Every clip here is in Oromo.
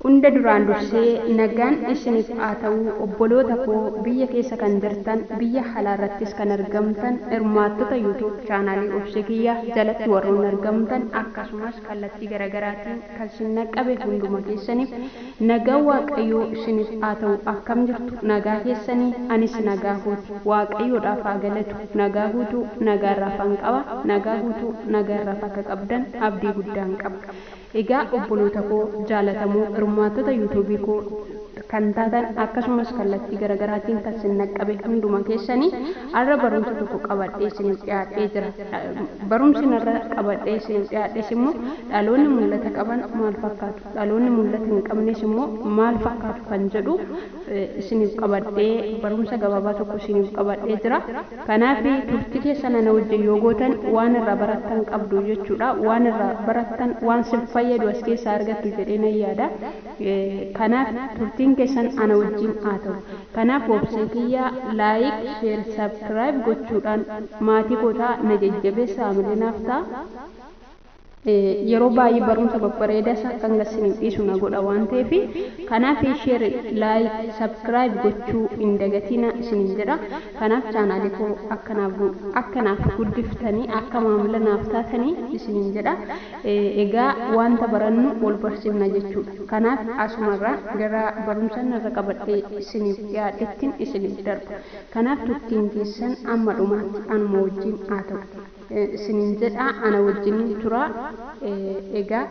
Hunda duraan dursee nagaan isinif haa ta'u obboloota koo biyya keessa kan jirtan biyya halaa irrattis kan argamtan hirmaattota youtube channel obse kiyya jalatti warroonni argamtan akkasumas kallattii garagaraatiin kan sin naqqabe hunduma keessanif nagaan waaqayyoo sinif haa ta'u akkam jirtu nagaa keessanii anis nagaa kooti waaqayyoodhaaf haa galatu nagaa guutuu nagaa irraafan qaba nagaa guutuu nagaa irraaf akka qabdan abdii guddaan qaba Egaa obbolootakoo jaalatamoo hirmaattota youtube koo kan taatan akkasumas kallattii garagaraatiin kan sin naqqabe hunduma keessani arra barumsa tokko qabadhee isiniif dhiyaadhee jira barumsin arra qabadhee isiniif dhiyaadhes immoo dhaloonni mul'ata qaban maal fakkaatu dhaloonni mul'ata hin qabnes immoo maal fakkaatu kan jedhu isiniif qabadhee barumsa gabaabaa tokko isiniif qabadhee jira. Kanaaf turtii keessan ana wajjin yoo gootan waan irraa barattan qabdu jechuudha. Waan irraa barattan waan sin fayyadu as keessaa argattu jedhee nan yaada. Kanaaf turtiin keessan ana wajjin haa ta'u. Kanaaf obsee kiyya like, share, subscribe gochuudhaan maatii koo ta'a na jajjabeessa haamilee naaf ta'a. Yeroo baay'ee barumsa babbareeda isaa akkan gad siniif dhiisu na godha waan ta'eef kanaaf share like subscribe gochuu hin dagatiina isiniin jedha kanaaf chaanaalii koo akka naaf akka naaf guddiftanii akka maamila naaf taatanii isiniin jedha egaa wanta barannu wal barsiifna jechuudha kanaaf asumarraan gara barumsan irra qabadhee isiniif dhiyaadhettiin isiniif darba kanaaf turtiin keessan amma dhumaatti anuma wajjin haa ta'u. isiniin jedha, ana wajjiniin turaa. Egaa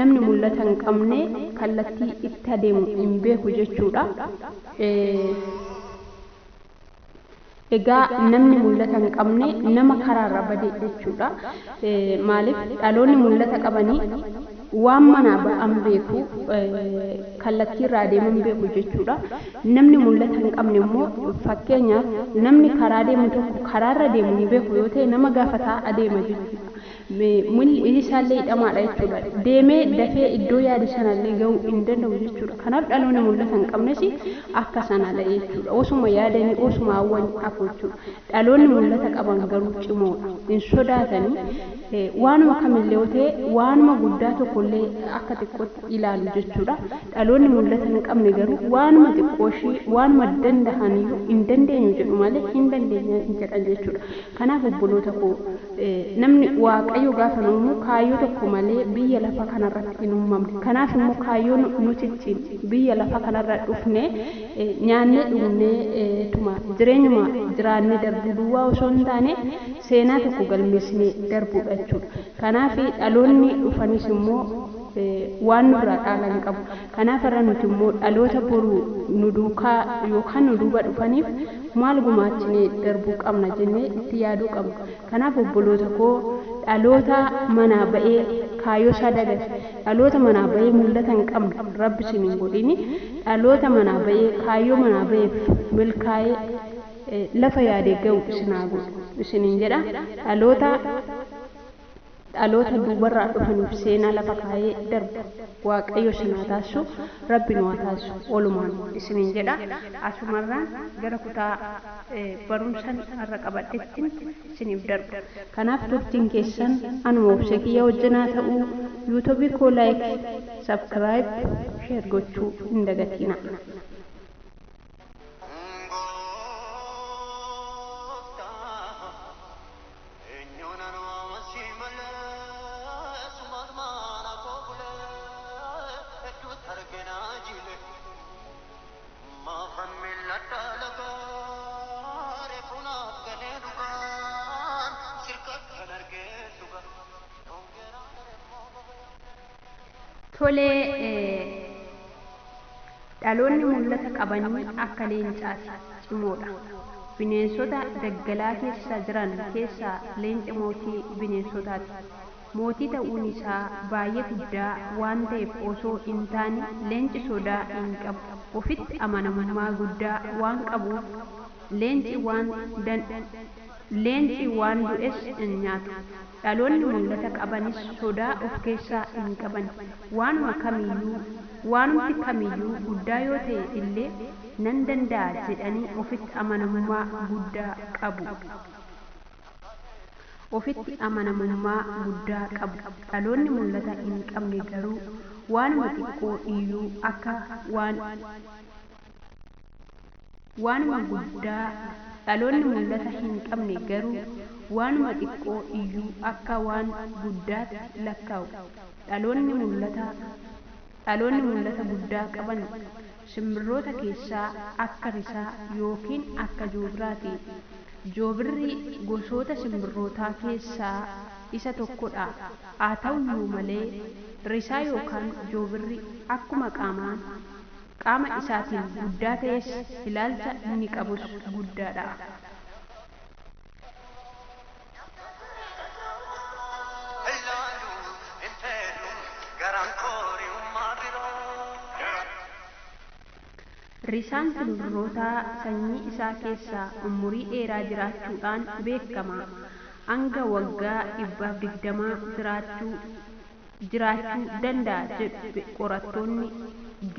namni mul'ata hin qabne kallattii itti adeemu hin beeku jechuu dha. Egaa namni mul'ata hin qabne nama karaarra bade jechuu dha. Maaliif dhaloonni mul'ata qabanii Waan manaa ba'an beeku, kallattii irra adeeman beeku jechuu dha. Namni mul'ata hin qabne immoo, fakkeenyaaf, namni karaa deemu tokko karaa irra deemu hin beeku yoo ta'e nama gaafataa adeema jechuu dha. Miilli isaa illee hidhamaa dha jechuu dha. Deemee dafee iddoo yaade sana illee ga'uu hin danda'u jechuu dha. Kanaaf dhaloonni mul'ata hin qabnes akka sana dha jechuu dha. Osuma yaadanii, osuma hawwanii hafu jechuu dha. Dhaloonni mul'ata qaban garuu cimoo dha. Hin sodaatani. Waanuma kamillee yoo ta'e waanuma guddaa tokkollee akka xiqqootti ilaalu jechuudha. Dhaloonni mul'ata hin qabne garuu waanuma xiqqooshii waanuma danda'aniyyuu hin dandeenyu jedhu malee hin dandeenya hin jedhan jechuudha. Kanaaf obboloota koo namni Waaqayyo gaafa nu uumu kaayyoo tokko malee biyya lafa kanarratti hin uumamne. Kanaaf immoo kaayyoo nu cicciin biyya lafa kanarra dhufnee Nyaannee dhugnee tumaaf jireenyuma jiraannee darbuu duwwaa osoo hin taane seenaa tokko galmeessinee darbuudha jechuudha. Kanaaf dhaloonni dhufanis immoo waan nurraa dhaalan qabu. Kanaaf har'a nuti immoo dhaloota boru nu duukaa yookaan nu duuba dhufaniif maal gumaachinee darbuu qabna jennee itti yaaduu qabna. Kanaaf obboloota koo dhaloota manaa ba'ee kaayyoosaa dagate, Dhaloota manaa bahee mullata hin qabne rabbi sin hin godhini dhaloota manaa bahee kaayyoo manaa baheef milkaa'ee lafa yaade gahu isin haa godhu isinin jedha dhaloota dhaloota duubarraa dhufaniif seenaa lafa kaayee darbu waaqayyo isin haa taasisu rabbi nu haa taasisu walumaan isinin jedha asumarraan gara kutaa barumsan har'a qabadhettin isiniif darba kanaaf turtiin keessan anuma obsee kiyya wajjin haa ta'uu youtube koo like subcribe share gochuu hin dagatiina. Maafan mil'adhaa lagaa reefu naaf galee dhugaan sirkadhan argeen dhugaa yoon geeraa daremmoo baga yoon geeraa. Tole Dhaloonni mul'ata qabanii akka leencaati. Cimoodha. Bineensota daggalaa keessa jiran keessaa leenci mootii bineensotaati. Mootii ta'uun isaa baay'ee guddaa waan ta'eef osoo hin taane, leenci sodaa hin qabu. Ofitti amanamummaa guddaa waan qabuuf, leenci waan leenci waan du'es hin nyaatu. Dhaloonni mul'ata qabanis sodaa of keessaa hin qaban. Waanuma kamiyyuu, waanumti kamiyyuu guddaa yoo ta'e illee nan danda'a jedhanii ofitti amanamummaa guddaa qabu. Ofitti amanamummaa guddaa qabu. Dhaloonni mul'ata hin qabne garuu waanuma xiqqoo iyyuu akka waan Waanuma guddaa Dhaloonni mul'ata hin qabne garuu waanuma xiqqoo iyyuu akka waan guddaatti lakkaa'u. Dhaloonni mul'ata Dhaloonni mul'ata guddaa qaban Simbirroota keessaa akka risaa yookiin akka joobiraati. Joobirri gosoota simbirrootaa keessaa isa tokkodha. Haata'uyyuu malee, risaa yookaan joobirri akkuma qaamaan qaama isaatiin guddaa ta'es ilaalcha inni qabus guddaadha. Risaan simbirrootaa sanyii isaa keessaa ummurii dheeraa jiraachuudhaan beekama. Hanga waggaa dhibbaaf digdamaa jiraachuu. jiraachuu danda'a jedhu qorattoonni,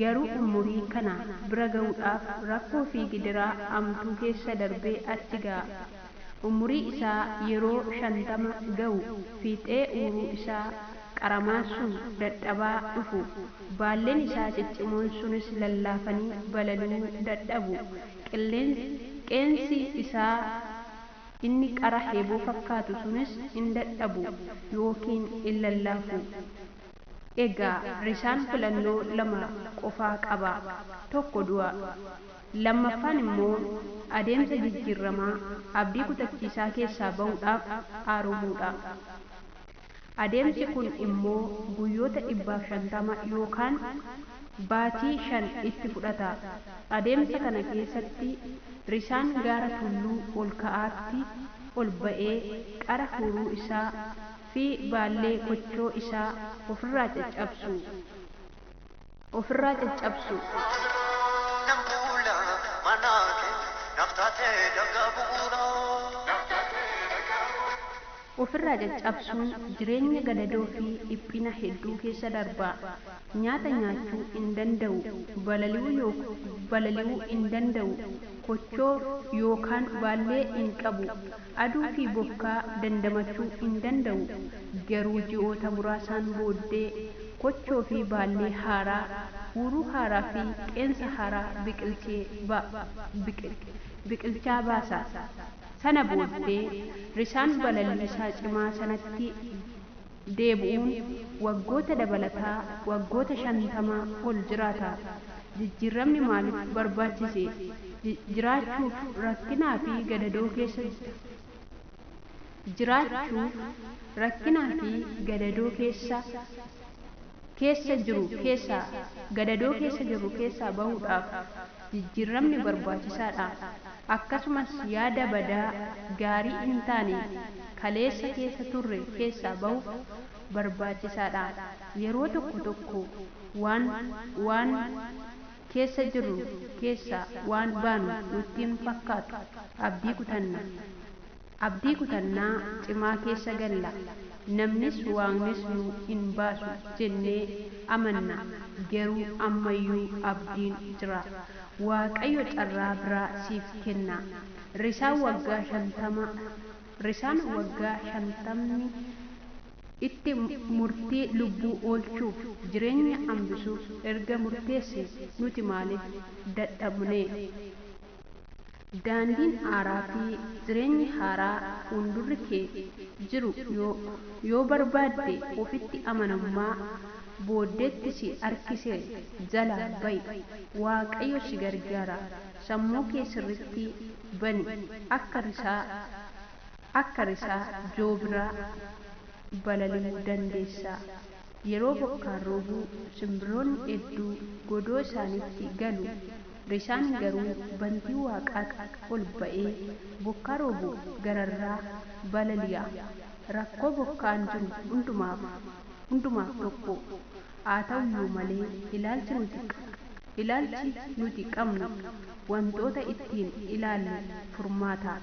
garuu umurii kana bira ga'uudhaaf rakkoo fi gidiraa amtuu keessa darbee achi ga'a. Umurii isaa yeroo 50 ga'u fiixee uuruu isaa qaramaan sun dadhabaa dhufu, baalleen isaa ciccimoon sunis lallaafanii balaluu dadhabu, qilleensi isaa, Inni qara heeboo fakkaatu sunis in dadhabu yookiin in lallaafu. Egaa risaan filannoo lama qofa qaba, tokko du'a, lammaffaan immoo adeemsa jijjiirramaa abdii kutachiisaa keessaa ba'uudhaaf aaromuu dha. Adeemsi kun immoo guyyoota 150 yookaan baatii shan itti fudhata. Adeemsa kana keessatti risaan gaara tulluu ol ka'aatti ol ba'ee qara huuruu isaa fi baallee kochoo isaa ofirraa caccabsu. ofirraa caccabsuu. Maalaan nan buula manaa kee naaf taatee dhagaa bu'uuraa. ofirraa caccabsuun jireenya gadadoo fi dhiphina hedduu keessa darba. Nyaata nyaachuu hin danda'u, balali'uu yook balali'uu hin danda'u, kochoo yookaan baallee hin qabu. Aduu fi bokkaa dandamachuu hin danda'u, garuu ji'oota muraasaan booddee kochoo fi baallee haaraa, huuruu haaraa fi qeensa haaraa biqilchee ba, biqil, biqilchaa baasa. Sana booddee, risaan balalii isaa cimaa sanatti. deebi'uun waggoota dabalataa waggoota 50 ol jiraata. Jijjiirramni maaliif barbaachise? Jiraachuuf rakkinaa fi gadadoo keessa Jiraachuuf rakkinaa fi gadadoo keessa keessa jiru keessaa gadadoo keessa jirru keessaa bahuudhaaf. jijjiirramni barbaachisaadha. Akkasumas yaada badaa, gaarii hin taane kaleessa keessa turre keessaa bahuuf barbaachisaadha. Yeroo tokko tokko waan waan keessa jirru keessaa waan baanu nutti hin fakkaatu. Abdii kutanna. Abdii kutannaa cimaa keessa galla, namnis Waaqnis nu hin baasu jennee amanna, geruu ammayyuu abdiin jira. Waaqayyo carraa biraa siif kenna. Risaan waggaa shantama Risaan waggaa shantamni itti murtii lubbuu oolchuuf jireenya hambisuuf erga murteesse nuti maaliif dadhabnee? Daandiin aaraa fi jireenyi haaraa fuundurri kee jiru yoo yoo barbaadde ofitti amanamummaa booddeetti si harkise jalaa ba'i. Waaqayyo si gargaara. Sammuu kee sirriitti bani. Akka risaa akka risaa joobiraa balali'uu dandeessa. Yeroo bokkaan roobu simbirroonni hedduu godoo isaaniitti galu, risaan garuu bantii waaqaatti ol ba'ee bokkaa roobuuf gararraa balali'a. Rakkoo bokkaan jiru hundumaaf hundumaaf tokko. Haata'uyyuu malee ilaalchi nuti ilaalchi nuti qabnu wantoota ittiin ilaallu furmaata.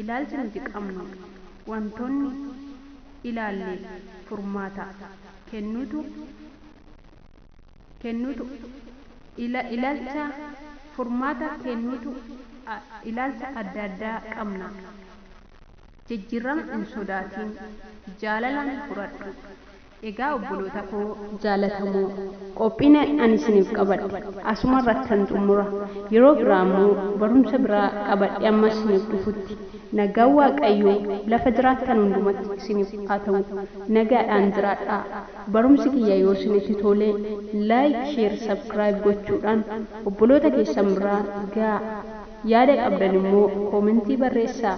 Ilaalchi nuti qabnu wantoonni ilaalleef furmaata kennuutu kennuutu ila, ilaalcha furmaata kennuutu a, ilaalcha adda addaa qabna. Jijjiirrama hin sodaatiin, jaalalaan fudhadhu. Egaa obboloota koo jaalatamoo, qophiin ani isiniif qabadhe asuma irrattan xummura. Yeroo biraa immoo barumsa biraa qabadhee amma isiniif dhufutti, nagaan Waaqayyoo lafa jiraattan hundumatti isiniif haa ta'u. Nagaadhaan jiraadhaa. Barumsi kiyya yoo isinitti tole, like, share, subcribe gochuudhaan obboloota keessan biraan ga'aa. Yaada qabdan immoo koomentii barreessaa.